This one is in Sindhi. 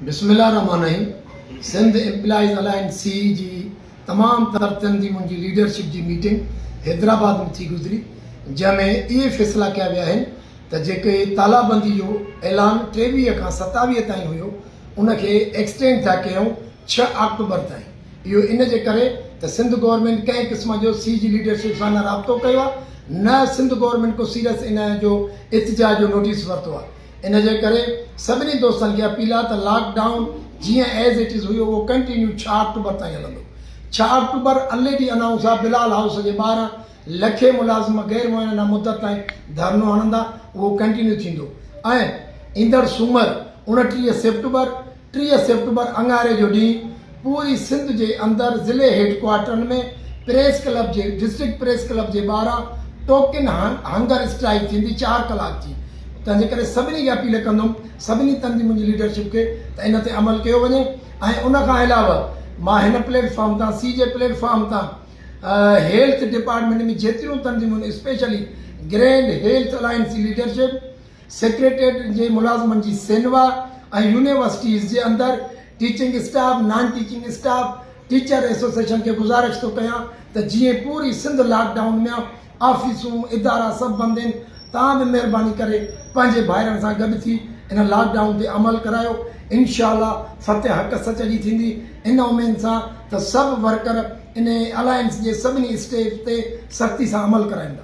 بسم الله الرحمٰن الرحيم Sindh employees alliance C E جي تمام تر تنظيمن جي ليڊرشپ جي ميٽنگ حيدرآباد ۾ ٿي گذري جنهن ۾ اهي فيصلا ڪيا ويا آهن ته جيڪي تالابندي جو اعلان ٽيويهه کان ستاويهه تائين هيو ان کي ايڪسٽينڊ ٿا ڪيون ڇهه آڪٽوبر تائين اهو ان جي ڪري ته سنڌ گورنمينٽ ڪنهن قسم جو سي جي ليڊرشپ سان نه رابطو ڪيو آهي نه سنڌ گورنمينٽ ڪو سيريس ان جو احتجاج جو نوٽيس ورتو آهي ان جي ڪري سڀني دوستن کي اپيل آهي ته لاڪ ڊائون جيئن ايز اٽ از هيو اهو ڪنٽينيو ڇهه آڪٽوبر تائين هلندو ڇهه October N A D announce آهي بلال هائوس جي ٻاهران لکين ملازم غير معينه مدت تائين ڌرنو هڻندا اهو ڪنٽينيو ٿيندو ۽ ايندڙ سومر اوڻٽيهه سيپٽمبر ٽيهه سيپٽمبر اڱاري جو ڏينهن پوري سنڌ جي اندر ضلعي هيڊڪوارٽرن ۾ پريس ڪلب جي ڊسٽرڪٽ پريس ڪلب جي ٻاهران ٽوڪن هنگر اسٽرائيڪ ٿيندي چار ڪلاڪ جي تنهن جي ڪري سڀني کي اپيل ڪندم سڀني تن جي منهنجي ليڊرشپ کي ته ان تي عمل ڪيو وڃي ۽ ان کان علاوه مان هن پليٽ فارم تان سي جي پليٽ فارم تان هيلٿ ڊپارٽمينٽ ۾ جيتريون تنظيمون اسپيشلي گرينڊ هيلٿ الائنس جي ليڊرشپ سيڪريٽريٽ جي ملازمن جي سينوا ۽ يونيورسٽيز جي اندر teaching staff, non teaching staff, teacher association کي گذارش ٿو ڪيان ته جيئن پوري سنڌ لاڪ ڊائون ميان آفيسون، ادارا سڀ بند هين توهان به مهرباني ڪري پنهنجي ڀائرن سان گڏ ٿي ان لاڪ ڊائون تي عمل ڪرايو انشاء الله فتح حق سچ جي ٿيندي ان اميد سان ته سڀ ورڪر ان الائنس جي سڀني اسٽيپس تي سختي سان عمل ڪرائيندا.